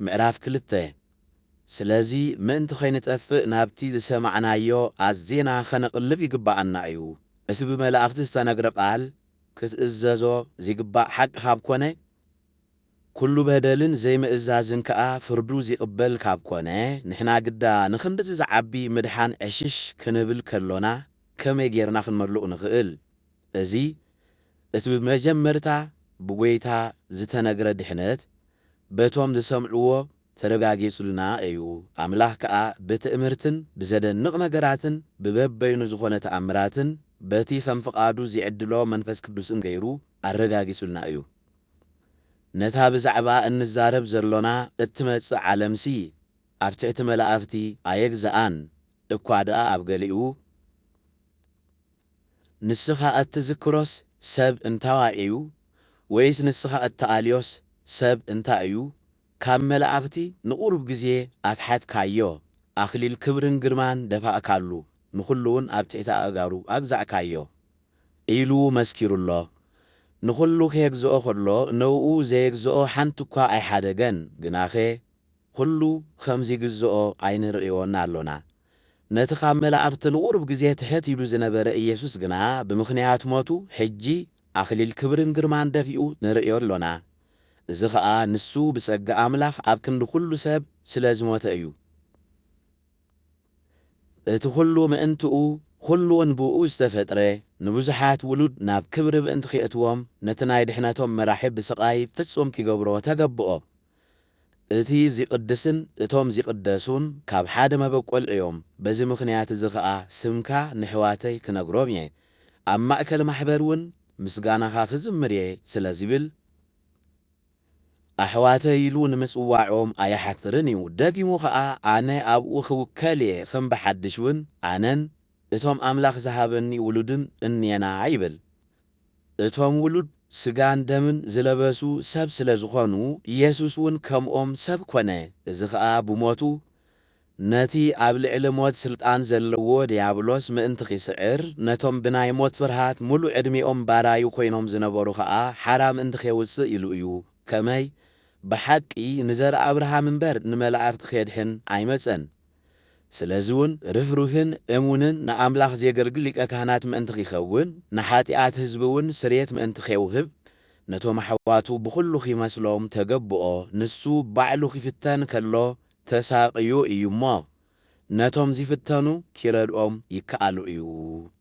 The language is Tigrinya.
ምዕራፍ ክልተ፣ ስለዚ ምእንቲ ኸይንጠፍእ ናብቲ ዝሰማዕናዮ ኣዚና ኸነቕልብ ይግብኣና እዩ። እቲ ብመላእኽቲ ዝተነግረ ቓል ክትእዘዞ ዚግባእ ሓቂ ኻብ ኰነ፣ ኵሉ በደልን ዘይምእዛዝን ከኣ ፍርዱ ዚቕበል ካብ ኰነ፣ ንሕና ግዳ ንኽንድዚ ዚዓቢ ምድሓን ዕሽሽ ክንብል ከሎና ከመይ ጌርና ኽንመልእ ንኽእል? እዚ እቲ ብመጀመርታ ብጐይታ ዝተነግረ ድሕነት በቶም ዝሰምዕዎ ተረጋጊጹልና እዩ፣ ኣምላኽ ከኣ ብትእምርትን ብዘደንቕ ነገራትን ብበበይኑ ዝኾነ ተኣምራትን በቲ ከም ፍቓዱ ዚዕድሎ መንፈስ ቅዱስን ገይሩ ኣረጋጊጹልና እዩ። ነታ ብዛዕባኣ እንዛረብ ዘሎና እትመጽእ ዓለምሲ ኣብ ትሕቲ መላእኽቲ ኣየግዝኣን እኳ ደኣ ኣብ ገሊኡ ንስኻ እትዝክሮስ ሰብ እንታዋይ እዩ? ወይስ ንስኻ እትኣልዮስ ሰብ እንታይ እዩ? ካብ መላእኽቲ ንቝሩብ ግዜ ኣትሓትካዮ፣ ኣኽሊል ክብርን ግርማን ደፋእካሉ፣ ንዅሉውን ኣብ ትሕቲ ኣእጋሩ ኣግዛእካዮ። ኢሉ መስኪሩሎ። ንዅሉ ኼግዝኦ ኸሎ፣ ነእኡ ዜግዝኦ ሓንቲ እኳ ኣይሓደገን፣ ግናኸ ኹሉ ኸም ዚግዝኦ ኣይንርእዮን ኣሎና። ነቲ ኻብ መላእኽቲ ንቝሩብ ግዜ ትሕት ኢሉ ዝነበረ ኢየሱስ ግና ብምኽንያት ሞቱ ሕጂ ኣኽሊል ክብርን ግርማን ደፊኡ ንርእዮ ኣሎና። እዚ ኸኣ ንሱ ብጸጋ ኣምላኽ ኣብ ክንዲ ዅሉ ሰብ ስለ ዝሞተ እዩ። እቲ ዅሉ ምእንትኡ ዅሉውን ብእኡ ዝተፈጥረ ንብዙሓት ውሉድ ናብ ክብሪ ምእንቲ ኼእትዎም ነቲ ናይ ድሕነቶም መራሒ ብስቓይ ፍጹም ኪገብሮ ተገብኦ። እቲ ዚቕድስን እቶም ዚቕደሱን ካብ ሓደ መበቈል እዮም፣ በዚ ምኽንያት እዚ ኸኣ ስምካ ነሕዋተይ ክነግሮም እየ፣ ኣብ ማእከል ማሕበር እውን ምስጋናኻ ክዝምር እየ ስለ ዚብል፣ ኣሕዋተይ ኢሉ ንምጽዋዖም ኣይሓፍርን እዩ። ደጊሙ ኸኣ ኣነ ኣብኡ ኽውከል እየ፣ ኸም ብሓድሽ እውን ኣነን እቶም ኣምላኽ ዝሃበኒ ውሉድን እንየና ይብል። እቶም ውሉድ ስጋን ደምን ዝለበሱ ሰብ ስለ ዝኾኑ፣ ኢየሱስ ውን ከምኦም ሰብ ኮነ፣ እዚ ኸኣ ብሞቱ ነቲ ኣብ ልዕሊ ሞት ስልጣን ዘለዎ ድያብሎስ ምእንቲ ኺስዕር፣ ነቶም ብናይ ሞት ፍርሃት ምሉእ ዕድሜኦም ባራዩ ኮይኖም ዝነበሩ ኸኣ ሓራ ምእንቲ ኼውጽእ ኢሉ እዩ፣ ከመይ፣ ብሓቂ ንዘርኢ ኣብርሃም እምበር ንመላእኽቲ ኼድሕን ኣይመጸን። ስለዚውን ርህሩህን እሙንን ንኣምላኽ ዜገልግል ሊቀ ካህናት ምእንቲ ኺኸውን፣ ንሓጢኣት ህዝቢውን ስርየት ምእንቲ ኼውህብ፣ ነቶም ኣሕዋቱ ብዅሉ ኺመስሎም ተገብኦ፣ ንሱ ባዕሉ ኺፍተን ከሎ ተሳቕዩ እዩ እሞ፣ ነቶም ዚፍተኑ ኪረድኦም ይከኣሎ እዩ።